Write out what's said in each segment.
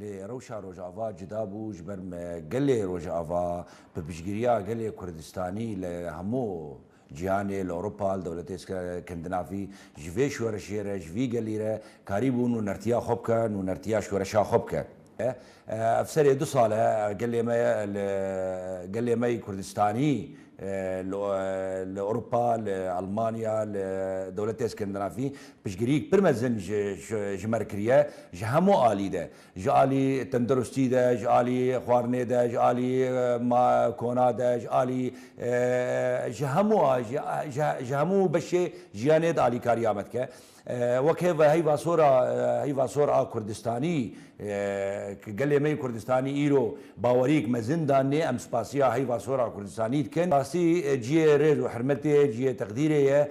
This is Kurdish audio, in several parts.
Lê rewşa Rojava cuda bû ji ber me gelê Rojava bi piştgiriya gelê Kurdistanî li hemû cîhanê, li Ewropa, li dewletê Skandinavî ji vê şoreşê re, ji vî gelî re karî bû nûnertiya xwe bike, nûnertiya şoreşa xwe bike. Ev serê du sal e gelê me li gelê me yê Kurdistanî li Ewropa, li Elmanya, li dewletê Skandinavî Piştgiriyek pir mezin ji me re kiriye ji hemû alî de, ji alî tendirustî de, ji alî xwarinê de, ji alî kona de, ji alî ji hemû ji hemû beşê jiyanê de alîkariya me dike. Wek hêv heyva sor a heyva sor a Kurdistanî ku gelê me yê Kurdistanî îro baweriyek mezin danê em spasiya heyva sor a Kurdistanî dikin. Rastî ciyê rêz û hirmetê ye, ciyê teqdîrê ye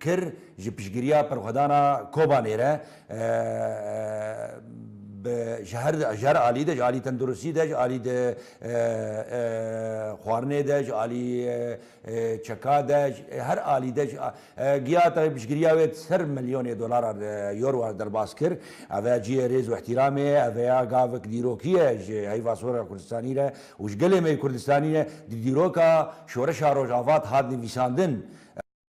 kir ji piştgiriya Perxwedana Kobanê re bi ji her ji her alî de ji alî tenduristî de ji alî di xwarinê de ji alî çeka de her alî de giya tevî piştgiriya wê ser milyonê dolara euro derbas kir ev e ciyê rêz û îhtîramê ye ev ya gavik dîrokî ye ji heyva sora Kurdistanî re û ji gelê me yê Kurdistanî re di dîroka şoreşa Rojava de hat nivîsandin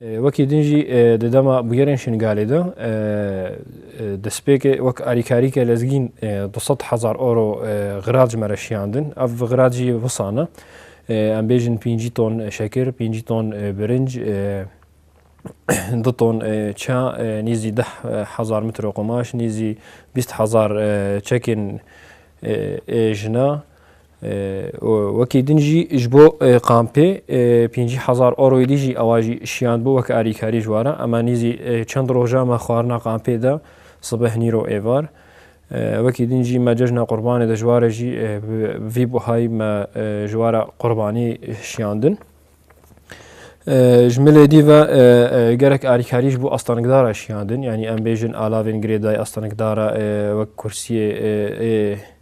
Wekî din jî di dema bûyerên Şingalê de destpêkê wek alîkarîke lezgîn du sed hezar euro xirac me re şiyandin. Ev xirac jî wisa ne. Em bêjin pêncî ton şekir, pêncî ton birinc, du ton ça, nêzî deh hezar mitro qumaş, nêzî bîst hezar çekên jina, Wekî din jî ji bo kampê pêncî hezar euroyê dî jî ewa jî şiyand bû wek alîkarî ji wara ema nîzî çend roja me xwarina kampê de sibeh nîro êvar. Wekî din jî me cejna qurbanê de ji ware jî vî buhayî me ji wara qurbanî şiyandin. Ji milê dî ve gerek alîkarî ji bo astanikdara şiyandin yanî em bêjin alavên girêdayî astanikdara wek kursiyê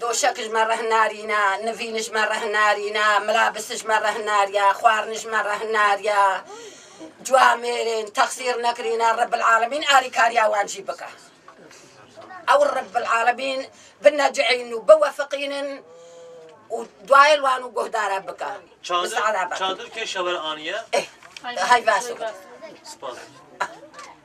Doşek ji me reh narîne, nivîn ji me reh narîne, mirabis ji me reh nariye, xwarin ji me reh nariye. Cuwa mêrên texsîr nekirîne Rebbil Alemîn alîkariya wan jî bike. Ew Rebbil Alemîn binecihînin û biwefiqînin û dayên wan û guhdara bike. Çadir çadir kê şewer aniye? Hay baş. Spas.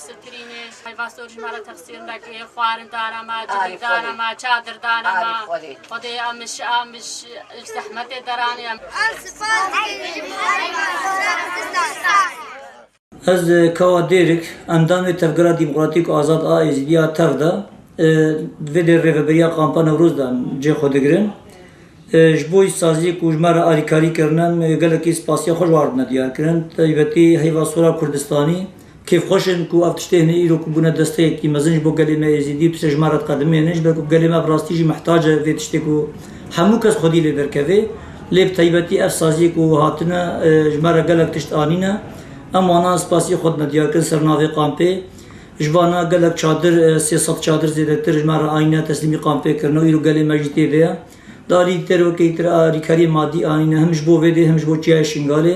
Sittirînê, heyva sor jî ma re texsîr neke yê, xwarin dana ma, civîk dana ma, çadir dana ma. Xwedê em ji em ji zehmetê deranî. Ez sipas dibêjim heyva sor bizdanê. Ez Kawa Dêrik, endamê Tevgera Demokratîk Azad a Êzidî ya tev de di vê dê rêveberiya Kampa Newroz de em cê xwe digirin. Ji bo îşsaziyê ku ji me re alîkarî kirine em gelekî spasiya xwe ji wan re dine diyarkirin. Taybetî heyva sora Kurdistanî Kêfxweş in ku ev tiştê hene îro ku bûne desteyekî mezin ji bo gelê me Êzîdî û tu ser ji me re diqedimî hene ji ber ku gelê me bi rastî jî mihtac e vê tiştê ku hemû kes xwedî lê derkeve lê bi taybetî ev saziyê ku hatine ji me re gelek tişt anîne em wanan spasiyê xwe dime diyar kirin ser navê kampê ji vana gelek çadir sê sed çadir zêdetir ji me re ayîne teslîmî kampê kirine û îro gelê me jî tê de ye di aliyî di derwekeyî tira alîkariyê madî anîne him ji bo vê dê him ji bo çiyayê Şingalê.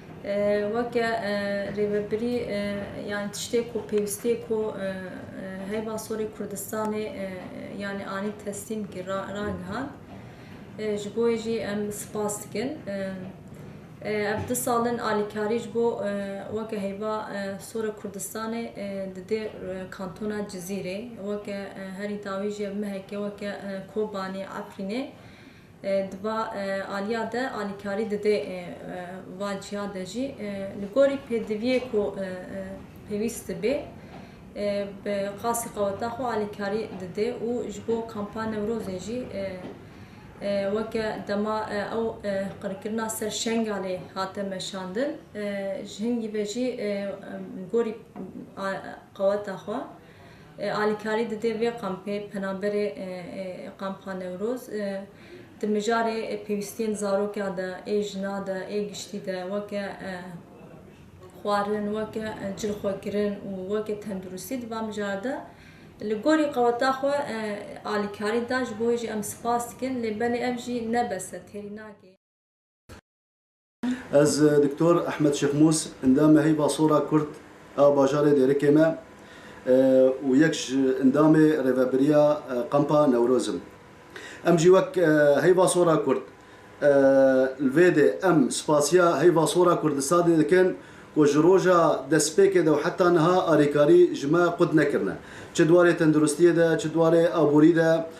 Weke Rêvebirî yanî tiştê ku pêwîstiyê ku heyva sorê Kurdistanê yanî anî teslîm kir ragihand. Ji bo wê jî em spas dikin. Ev du sal in alîkarî ji bo weke heyva sora Kurdistanê didê kantona Cizîrê. Weke herî dawî jî ev mehekê weke Kobanê, Efrînê. Di va aliya de alîkarî didê va ciya de jî li gorî pêdiviyê ku pêwîst dibê bi qasî qeweta xwe alîkarî didê û ji bo kampa Newrozê jî weke dema ew qirkirina ser Şengalê hate meşandin ji hingî ve jî gorî qeweta xwe Alîkarî dide vê kampê penaberê Kampa Newroz di mijarê pêwîstiyên zaroka de ê jina de ê giştî de weke xwarin, weke cilxwekirin û weke tenduristî di van mijara de li gorî qeweta xwe alîkarî da ji bo wê jî em spas dikin lê belê ev jî ne bes e têrî nake. Ez Doktor Ehmed Şêxmûs, endamê Heyva Sora Kurd a bajarê Dêrikê me û yek ji endamê Rêveberiya Kampa Newroz im. Em jî wek Heyva Sora Kurd li vê dê em spasiya Heyva Sora Kurdistanê dikin ku ji roja destpêkê de û heta niha alîkarî ji me qut nekirine. Çi di warê tenduristiyê de, çi di warê aborî de,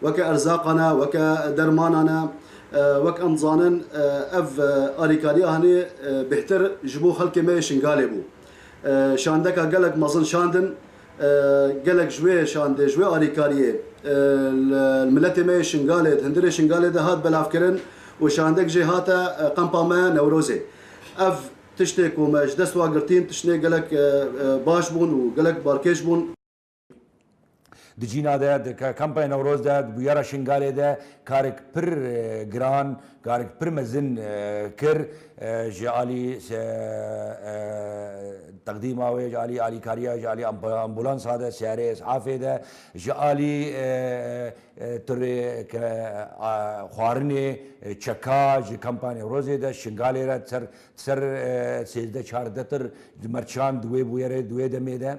weke erzaqan e, weke dermanan e. Wek em dizanin ev alîkariya hinî bêhtir ji bo xelkê me yê Şingalê bû. Şandeka gelek mezin şandin. Gelek ji wê şandê, ji wê alîkariyê li miletê me yê Şingalê, di hundirê Şingalê de hat belavkirin û şandek jê hate qempa me Newrozê. Ev tiştê ku me ji dest wa girtîn, tiştê gelek baş bûn û gelek balkêş bûn. Di cîna de di kampaya Newroz de di bûyera Şingalê de karek pir giran, karek pir mezin kir ji alî teqdîma wê, ji alî alîkariya, ji alî ambulansa de, seyarê es'afê de, ji alî tirê ke xwarinê çeka ji kampaya Newrozê de Şingalê re ser ser sêzdeh çardeh tir mercan di wê bûyerê di wê demê de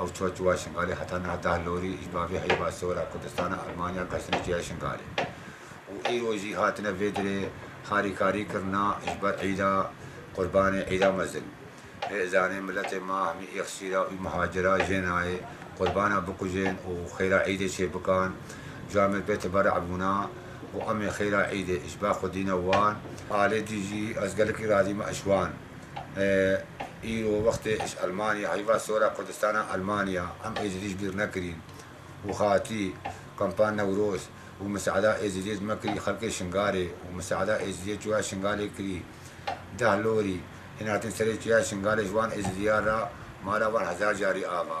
Ew çûya çûya Şingalê heta niha deh lorî ji bavê heyva sora Kurdistana Elmanya xestine çûya Şingalê û îro jî hatine vê dirê harîkarî kirina ji ber îda Qurbanê îda mezin. Hê zanê miletê ma hemî îxsîra û mihacira jê nayê Qurbana bikujên û xêra îdê çê bikan ji amê pê teberî bûna û amê xêra îdê ji ba xwedîna wan. Alê dî jî ez gelekî razî me eşwan. Îro wextê iş Elmanya heyva sora Kurdistana Elmanya em êzidîş bîr nekirîn û xatî kampa Newroz û miseada êzidîyê dime kirî xelkê Şingalê û miseada êzidîyê çûya Şingalê kirî deh lorî hîn hatin serê çûya Şingalê ji wan êzidîyan ra mala wan hezar carî ava.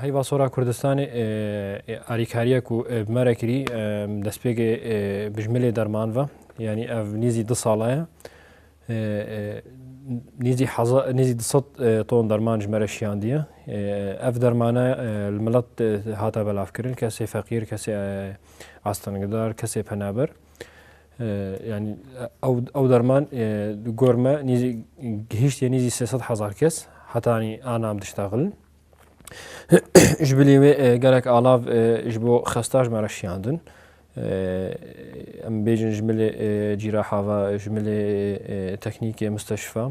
Heyva Sora Kurdistanê alîkariya ku bi me re kirî destpêkê bijmilê derman ve yanî ev nîzî du sala ye nîzî nîzî du sed ton derman ji me re şiyandiye ev dermane li milet hate belavkirin kesê feqîr kesê astengidar kesê penaber yani ew derman di gor me nîzî gihîştiye nîzî sê sed hezar kes heta anî anam diştexilin ji bilî wê gelek alav ji bo xesta ji me re şiyandin em bêjin ji milê cîra hava ji milê teknîkê misteşifa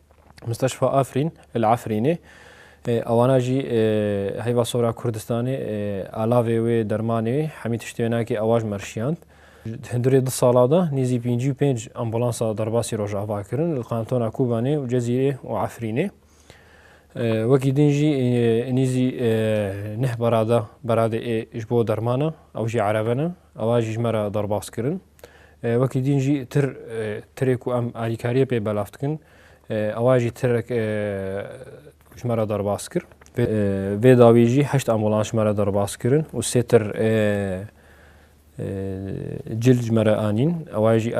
Musteşfa Afrîn li Efrînê ewana jî heyva sora Kurdistanê alavê wê dermanê hemî tiştê nakê ewa ji me rişiyand. Hindurê du sala de nêzî pêncî û pênc ambulansa derbasî rojava kirin li kantona Kobanê û Cezîrê û Efrînê. Wekî din jî nêzî neh berada beradê ê ji bo dermana ew jî erebe ne ewa jî ji me re derbas kirin. Wekî dîn jî tir tirê ku em alîkariyê pê belav dikin ewa jî tirek ji me re derbas kir. Vê dawî jî heşt ambulans ji me re derbas kirin û sê tir cil ji me re anîn. Ewa jî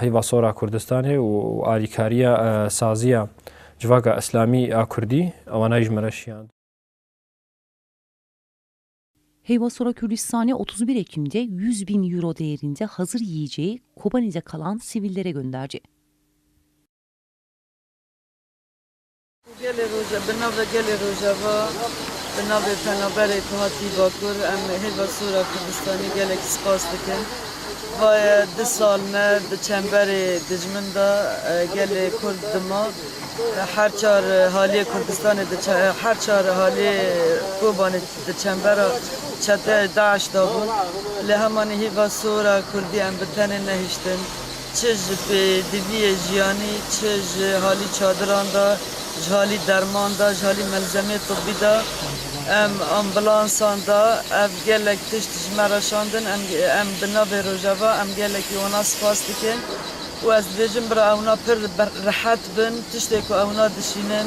heyva sora Kurdistanê û alîkariya saziya civaka îslamî a Kurdî ewanayî ji me re şiyand. Heyvasora Kurdistanê otuz u bir Ekîm de yüz bin euro değerînde hazır yiyeceği Kobanî de kalan sivîllere gönderdi. Gelê Roja bi navê Gelê Rojava bi navê penaberê ku hatî Bakur em Heyvasora Kurdistanê gelekî spas dikin. Vaye du sal me di çemberê dijmin de gelê Kurd dima. Her çar haliyê Kurdistanê di her çar haliyê Kobanê Di çembera çeteyê DAIŞ de bûn. Lê hemanî hîva sor e Kurdî em bi tenê nehiştin. Çi ji pêdiviyê jiyanî, çi ji halî çadiran de, ji halî derman de, ji halî melzemeyê tibî de, em ambulansan de ev gelek tişt ji me re şandin. Em em bi navê Rojava em gelekî wana spas dikin û ez dibêjim bira ewna pir rehet bin. Tiştê ku ewna dişînin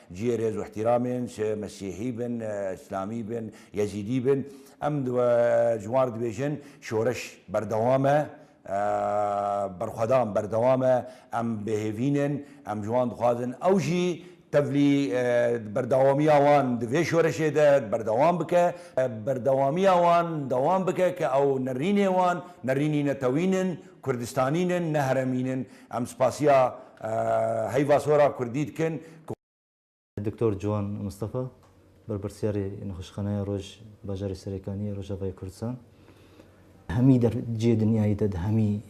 Cihê rêz û îhtîramên, çi mesîhî bin, îslamî bin, yezîdî bin, em di we ji wan re dibêjin şoreş berdewam e, berxwedan berdewam e, em bêhêvîn in, em ji wan dixwazin ew jî tevlî berdewamiya wan di vê şoreşê de berdewam bike, berdewamiya wan dewam bike ke ew nerînê wan, nerînî netewîn in. Kurdistanîn in ne heremîn in. Em spasiya heyva sora kurdî dikin ku. Doktor Ciwan Mistefa, Berpirsyarê Nexweşxaneya Roj Bajarê Serêkanî yê Rojavayê Kurdistan. Hemî der cihê dinyayê de di hemî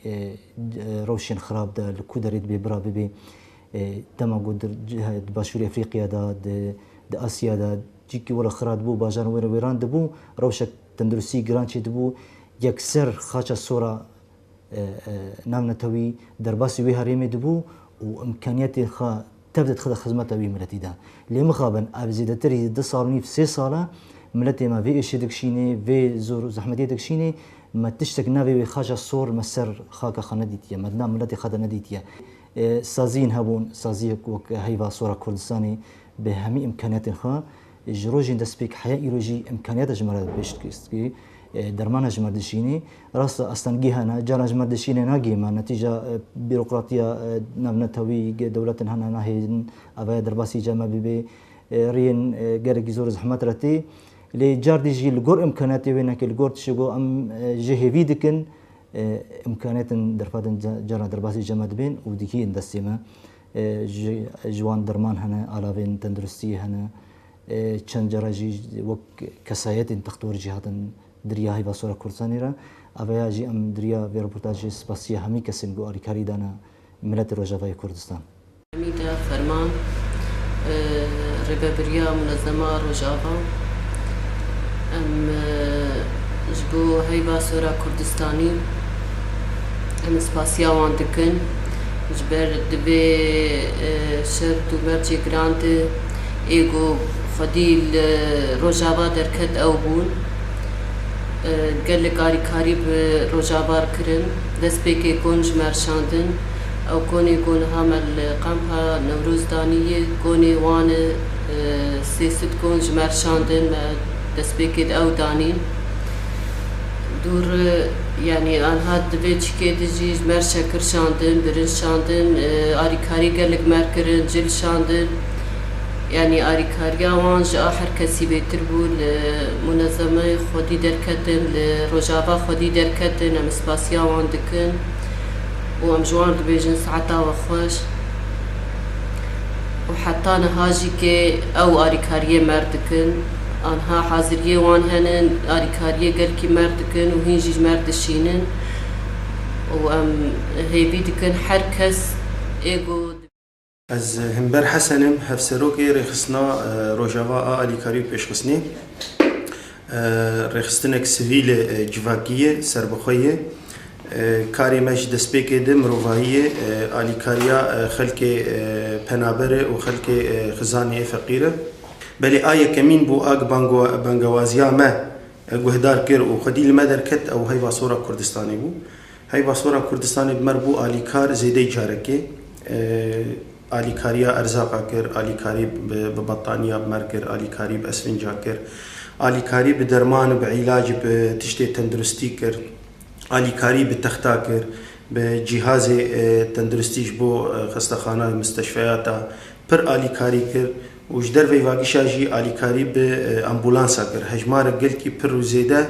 rewşên xirab de li ku derê dibê bira bibê. Dema ku di di Başûrê Efrîqya de, di Asya de cî ku were xira dibû, bajaran were wêran dibû, rewşek. Tenduristî giran çêdibû, yekser xaça sora navnetewî derbasî wê herêmê dibû û imkaniyetên xwe tev de dixide xizmeta wî miletî de. Lê mixabin ev zêdetir hî du sal û nîv sê sal e miletê me vê êşê dikişînê, vê zor û zehmetiyê dikişînê, me tiştek navê wê xaça sor me ser xaka xwe nedîtiye, me di nav miletê xwe de nedîtiye. Saziyên hebûn, saziyek wek heyva sora Kurdistanê bi hemî imkaniyetên xwe Ji rojên destpêk heya îro jî îmkaniyata ji me re pêş dikevî. Dermana ji me dişînî. Rast e astengî hene, caran ji me dişînê nagihê me. Netîca bîrokratiya navnetewî dewletin hene nahêlin avaya derbasî ca me bibê. Riyên gelekî zor zehmet re tê. Lê cardî jî li gor îmkaniyatê wê neke li gor tişê ku em jê hêvî dikin îmkaniyatin derfetin caran derbasî ca me dibên û digihîn destê me. Ji wan derman hene, alavên tenduristiyê hene. Çend care jî wek kesayetên textor jî hatin dirîya heyva sora Kurdistanê re. Aveya jî em dirîya vê reportajê spasîya hemî kesên ku alîkarî dane miletê Rojavayê Kurdistan. Hemîda Ferman, Rêvebirîya Munezema Rojava, Em ji bo heyva sora Kurdistanî, Em spasiya wan dikin ji ber di vê şert û mercê giran de ê ku xwedî li Rojava derket ew bûn. Gelek alîkarî bi Rojava re kirin. Destpêkê kon ji me re şandin. Ew konê ku niha me li Kampa Newroz danî ye konê wan e. Sê sitcom ji me re şandin, me destpêkê di ew danîn. Dûr yanî anha di vê çikê de jî ji mer şekir şandin, birinc şandin, arîkarî gelek mer kirin, cil şandin. Yanî arîkariya wan ji a her kesî bêtir bû. Li munezemeyê xwedî derketin, li rojava xwedî derketin. Em spasiya wan dikin û em ji wan dibêjin saeta we xweş. Û heta niha jî kê ew arîkariyê mer dikin. Anha haziriyê wan hene alîkariyê gelkî merg dikin û hîn jî ji merg dişînin û em hêvî dikin her kes ê ku Ez Himber Hesen im, Hevserokê Rêxistina Rojava a Alîkarî û Pêşxistinê. Rêxistinek sivîl e, civakî ye, serbixwe ye. Karê me ji destpêkê di mirovahî ye, alîkariya xelkê penaber e û xelkê xizanê yê feqîr e. Belê a yekemîn bû a bi bangewaziya me guhdar kir û xwedî li me derket ew heyva Sora Kurdistanê bû. Heyva Sora Kurdistanê bi me re bû alîkar zêdeyî carekê. Alîkariya erzaqa kir, alîkarî bi bettaniya bi me re kir, alîkarî bi esfinca kir, alîkarî bi derman û bi îlaj bi tiştê tenduristî kir, alîkarî bi texta kir, bi cîhazê tenduristî ji bo xestexana, misteşfeyata pir alîkarî kir. û ji derveyî vagişa jî alîkarî bi ambulansa kir hejmarek gelkî pir û zêde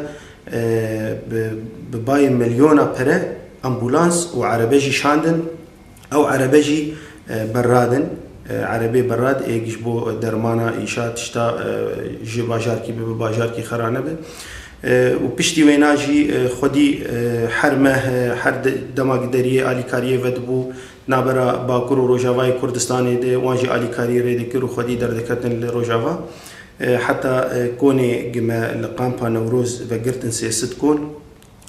bi bayê milyona pere ambulans û erebe jî şandin ew erebe jî berradin erebê berrad êk ji bo dermana îşa tişta ji bajarkî bibe bajarkî xera nebe û piştî wêna jî xwedî her meh her dema gideriyê alîkariyê vedibû Navbera Bakur û Rojavayê Kurdistanê de wan jî alîkariyê rê dikir û xwedî derdiketin li Rojava. Heta konê gime li Kampa Newroz vegirtin sê sit kon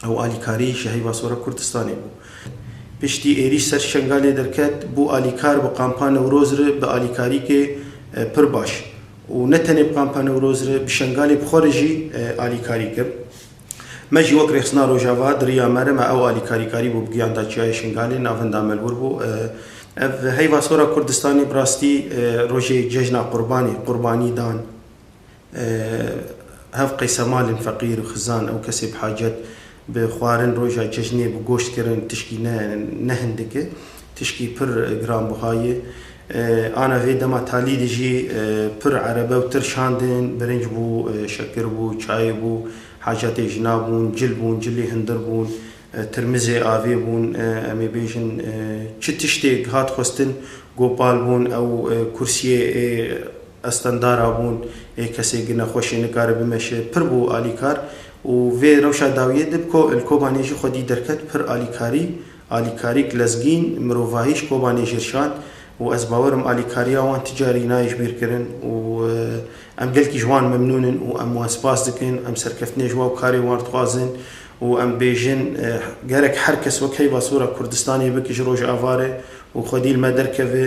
ew alîkarî ji heyva sora Kurdistanê bû. Piştî êrîş ser Şengalê derket bû alîkar bi Kampa Newroz re bi alîkarîkê pir baş û ne tenê bi Kampa Newroz re bi Şengalê bi xwe re jî alîkarî kir. Me jî wek Rêxistina Rojava di riya me re me ew alîkarîkarî bû bi giyan da Çiyayê Şingalê navinda me li wir bû. Ev heyva sora Kurdistanê bi rastî rojê cejna qurbanê, qurbanî dan hev qeysemalên feqîr, xizan û kesê bi hacet bi xwarin roja cejnê bi goşt kirin tişkî ne ne hindike. Tişkî pir giranbiha ye. Ana vê dema talî de jî pir erebe û tir şandin, birinc bû, şekir bû, çayê bû, hacatê jina bûn, cil bûn, cilê hindir bûn, tirmizê avê bûn, em ê bêjin çi tiştêk hat xwestin Gopal bûn, ew kursiyê ê estendara bûn, ê kesê gi nexweşê nikare bimeşe, pir bû alîkar û vê rewşa dawiyê de bi ko li Kobanê jî xwedî derket pir alîkarî Alîkarî Glezgîn, Mirovahî ji Kobanê jê şand û ez bawer im alîkariya wan ti carî nayê ji bîr kirin û em gelkî ji wan memnûn in û em wan spas dikin. Em serkeftinê ji wan û karên wan dixwazin û em bêjin gerek her kes wek heyva sora Kurdistanê bike ji Rojavayê û xwedî li me derkeve.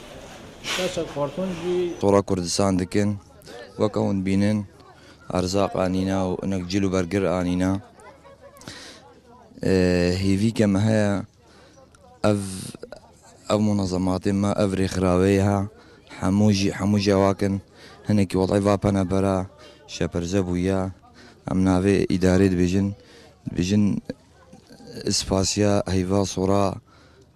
Tora Kurdistan dikin, weke hûn bînin erzaq anîna û hinek cil û bergir anîna. Hêvîke me heye ev ev munezematê me ev rêxiraweyê he hemû jî hemû cewak in. Hinekî welay va penebera şeperze bûye. Em navê îdarê dibêjin dibêjin spasiya heyva sora.